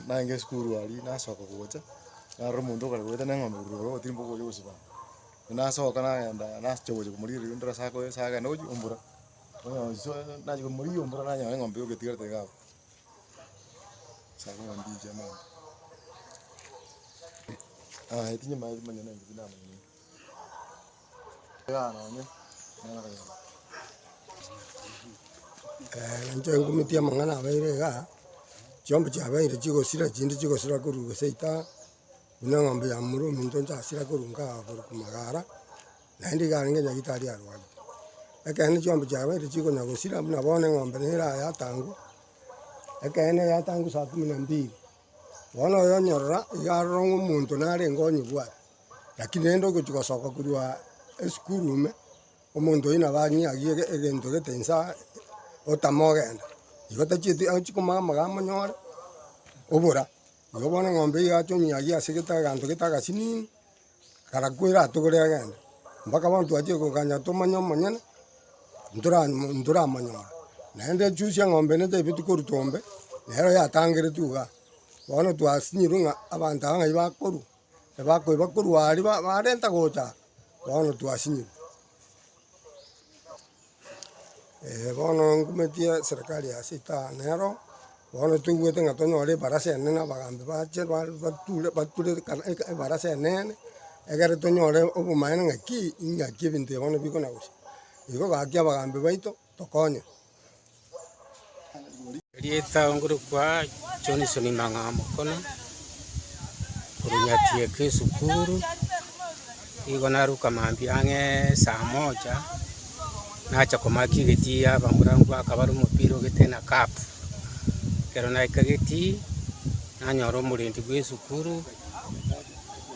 Naenge esukuru aria nasoka gocha, narora omonto okare gobeta na eng'ombe korwa igoro gotirimboka okochia gosibama. Nasoka nagenda nachiaka gocha komorigia rirorio ndore ase akoira ase agenda gochia ombura. nachia komorigia ombura nanyora eng'ombe yoka etigarete iga abwo. Ebi nyomanyete. Inche ngomitie amang'ana abeire iga, chiombe chiabeire chigosira, chinde chigosira korwa gose ita, buna eng'ombe ya momura ominto nchasira korwa kaa korwa magara, naende iga arenge nyagitari arwarete. Ekeene chiombe chiabeire chigonya gosira buna bono eng'ombe nere ayatangwa, ekeene yatangwa saa kumi na mbili. Bono oyo onyorora iga aroro ng'a omonto narenge onyebwate, lakini rende ogochia gosoka korwa esukuru ime, omonto oyio nabo ang'iagie ege- egento gete insa otamogenda. Igo tachieti achi komanya amagambo onyore obora. Igo bono eng'ombe iga ache onyiagie ase gete aganto gete agasinini. Karakwera atogore agende, mpaka bono twachire koganya tomanye omonyene, ntora ntoramonyore. Naende echusi eng'ombe ere taibeti korutwa ombe, nero yatangeretu igaa. Bono twasinyirwe ng'a abanto aba ng'ai bakorwa, ebakoiba korwa aria ba barenta gocha, bono twasinyirwe. bono ngometie serikari ya ase taa nero, bono toigwete ng'a tonyore ebarasa enene abagambi bache ba bature bature ekana eka ebarasa enene, egere tonyore obomaene ng'aki ing'aki ebinto ebi bono bikona gocha. Igo gaki abagambi baito. tokonye. Erieta ngorokwa Johnson Mang'a Mokono, korwa Nyatieke esukuru, nigo naruka mambia ang'e saa moja, nacha komaki egetii ya abamurankwa akabare omopira ogete na cup. Ekero naika egetii, nanyora omorendi bwa esukuru,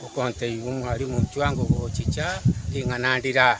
okontebia omwalimu intwe ango gochicha, ring'ana ndire aa.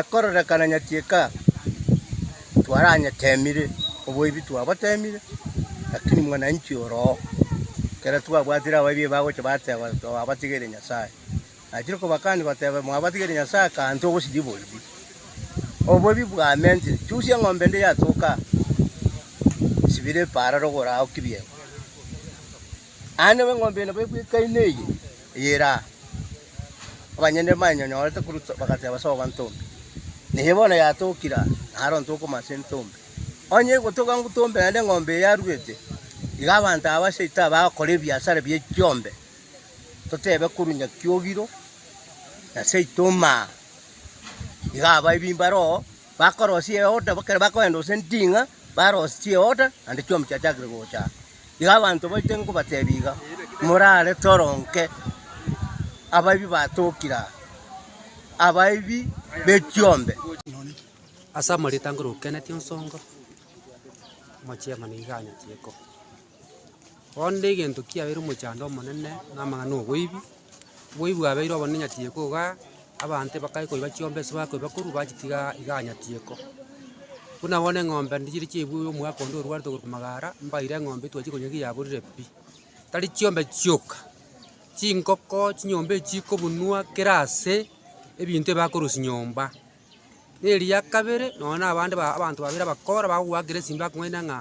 ekororekana nyati eka twaranyeteemire oboibi twaboteemire, lakini mwananchi ore oo, ekero twabwatire abaibia aba bagocha bateba twabatigeire Nyasaye. Achire kobakani goteba mwabatigeire Nyasaye akanto ogosiria oboibi. Oboibi bwamentire, chusia eng'ombe ende yatoka aa, sibira epaara rogoro ao kibiero. Aande b'eng'ombe nabo egwekaine eye eyere aa, abanyene bayenyorete korwa ase bagateba ase obobanto ime, Neye bono yatokire aa, na are onto okoma ase entombe. Onye egotoka ntombe naende eng'ombe eye yaruete, iga abanto aba aseite aba bagokora ebiasara bie chiombe, totebe korwa Nyaki Ogiro na seito Omaa, iga aba ebi mbare oo bakorosia eoda, ekero bakoenda gose nding'a, barosie eoda naende chiomi chiachakire gocha aa. Iga abanto baito nkobatebia iga, morare toro nke, abaibia batokire aa, abaibia b'echiombe. Ase amarita ngoro okenetie onsongo, omochiema nigo anyachieko. Bono rende egento kiabeire omochando omonene, namang'ana na oboibi. Oboibi bwabeire obonene nyatieko igaa, abanto bakare koiba chiombe ase bakoiba korwa bachitiga igaa nyatieko. Buna bono eng'ombe ndi chiri chiabu omwaka onde orwarete korwa magara, mbaire eng'ombe twachia konya ki yaborire pi. Tari chiombe chioka, chingoko, chinyomba echi chikobunwa kera ase, ebinto ebi bakorosia nyomba. Na eria kabere, nonya na abande ba- abanto babere abakora bagogoakera esimba akong'aina ng'a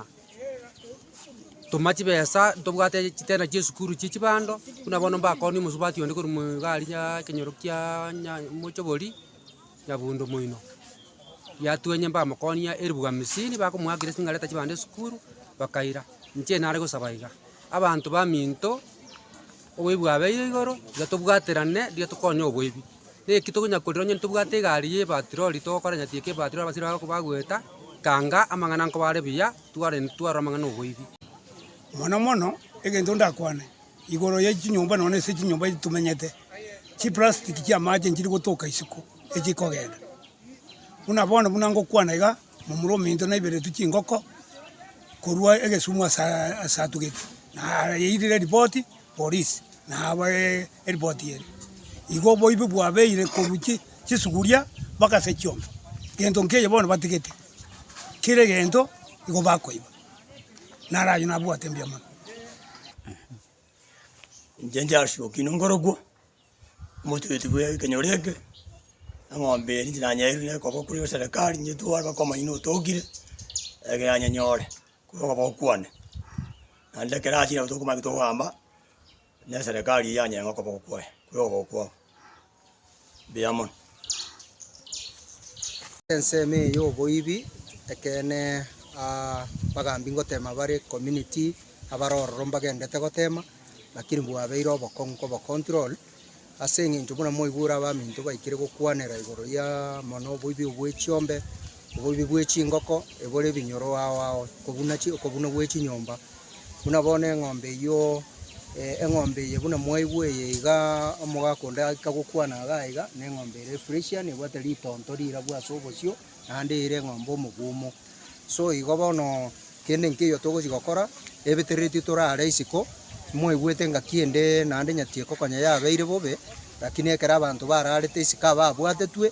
toma chibesa ntobwate chitena chi'esukuru chie chibando, buna bono mbakoorire omosubati onde korwa mo egari yaaa ekenyoro kia nya mochobori, nyabundo moino. Yatwenya mbamokonia eribugu hamsini, bakomoakera esimba ng'areta chibando esukuru, bakaira. Inche nare gosaba iga, abanto baminto, oboibi bwabeire igoro, iga tobwaterane, riria tokonya oboibi. Naki tokonya korira onye ntobwate egari y'ebatirori, togokora onye tiga ebatirori abasire bago bagoeta, tanga amang'ana nkoba are buya, tware twarora amang'ana oboibi. Mono mono egento ndakwane igoro ye chinyomba nonya ase chinyomba echi tomenyete, chiplastiki chi'amache nchiri gotoka isiko echi kogenda. Buna bono buna ngokwana iga, momura ominto naiberetwe chingoko korwa egesumu asaa asatugete, nayeirire ripoti Polisi nabo eripoti eye. Igo oboibi bwabeire korwa chi chisuguria mpaka ase chiombe, gento nkeiyo bono batigete, kera egento igo bakoiba. Naro ayio nabwate mbuya mono eeh. Inche Charles Okinyi nkorokwo, omochweti bwe ekenyoro eke, eng'ombe eri inche nanyeeirwe na ekoboko korwa serikali nyetware mpaka omoyio notokire, eke yanyenyore. Koba gokwane, naende ekero achire nabo tokomanya ki tokogaamba, na eserekari eye yanyare ng'a okoba gokwaye, koba ogokwago. Mbuya mono. Ensemo eye ya oboibi ekeene abagambi ngotema bare community abare ororo mbagendete gotema lakini bwabeire obokong'u kobocontrol. Ase engencho buna mwaigure abaminto baikire gokwanera igoro ya mono oboibi obwe chiombe, oboibi bwe chingoko, ebore ebinyoro ao ao, okobuna chi okobuna gwe chinyomba, buna bono eng'ombe eyio, eh, eng'ombe eye buna mwaigwa eye igaa omogaka onde agika gokwana igaa iga, neng'ombe ere fresian ebwate ritonto rirabwo ase obosio. naende ere eng'ombe omogumu. So igo bono kende nkeiyo togochia gokora, ebetereretio tore are isiko, mwaigwete ngaki ende naende nyatieko konya yabeire bobe, lakini ekero abanto bararete isiko ababwatetwe.